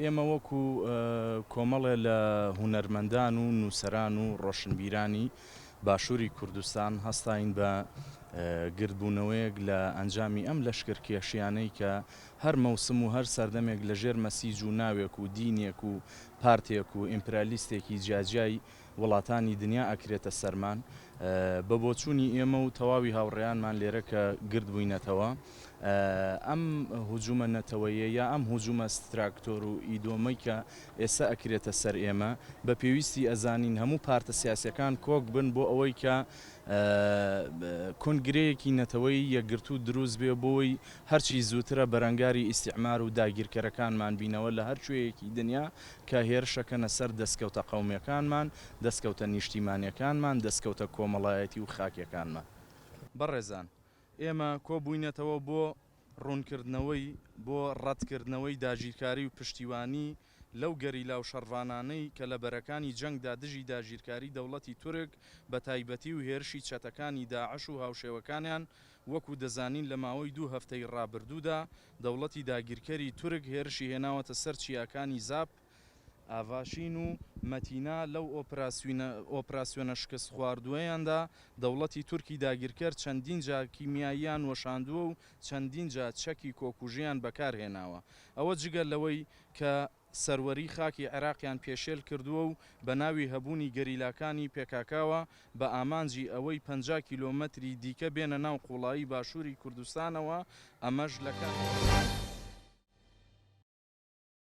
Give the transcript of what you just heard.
ئێمە وەکو کۆمەڵێ لە هونەرمەندان و نووسەران و ڕۆشنبیرانی باشووری کوردستان هەستاین بە گردبوونەوەیەک لە ئەنجامی ئەم لەشکر کێشیانەی کە هەر مەوسم و هەر سەردەمێک لە ژێر مەسیج و ناوێک و دینێک و پارتێک و ئیمپرالیستێکی جیاجیای وڵاتانی دنیا ئەکرێتە سەرمان بە بۆچوونی ئێمە و تەواوی هاوڕێیانمان لێرە کە گرد بووینەتەوە ئەم هجوومە نەتەوەیە یا ئەم هجوومە ستراکتۆر و ئیدۆمەی کە ئێستا ئەکرێتە سەر ئێمە بە پێویستی ئەزانین هەموو پارتە سیاسەکان کۆک بن بۆ ئەوەی کە کۆنگرەیەکی نەتەوەی یەکگرتوو دروست بێ بۆی هەرچی زووترە بەرەنگاری ئیستیعمار و داگیرکەرەکانمان بینەوە لە هەر کوێیەکی دنیا کە هێرشەکەنە سەر دەسکەوتە قەومیەکانمان، دەسکەوتە نیشتیمانیەکانمان، دەسکەوتە کۆمەڵایەتی و خاکیەکانمان. بەڕێزان ئێمە کۆبووینەتەوە بۆ ڕوونکردنەوەی، بۆ ڕەتکردنەوەی داگیرکاری و پشتیوانی لەو گەریلا و شەڕڤانانەی کە لە بەرەکانی جەنگدا دژی داگیرکاری دەوڵەتی تورک بە تایبەتی و هێرشی چەتەکانی داعش و هاوشێوەکانیان وەکو دەزانین لە ماوەی دوو هەفتەی ڕابردوودا دەوڵەتی داگیرکەری تورک هێرشی هێناوەتە سەر چیاکانی زاپ، ئاڤاشین و مەتینا، لەو ئۆپراسیۆنە شکستخواردووەیاندا دەوڵەتی تورکی داگیرکەر چەندین جار کیمیاییان وەشاندووە و چەندین جار چەکی کۆکوژیان بەکارهێناوە، ئەوە جگە لەوەی کە. سەروەری خاکی عێراقیان پێشێل کردووە و بە ناوی هەبوونی گەریلاکانی پێکاکاوە بە ئامانجی ئەوەی پەنجا کیلۆمەتری دیکە بێنە ناو قوڵایی باشووری کوردستانەوە، ئەمەش لە کاتێکدا.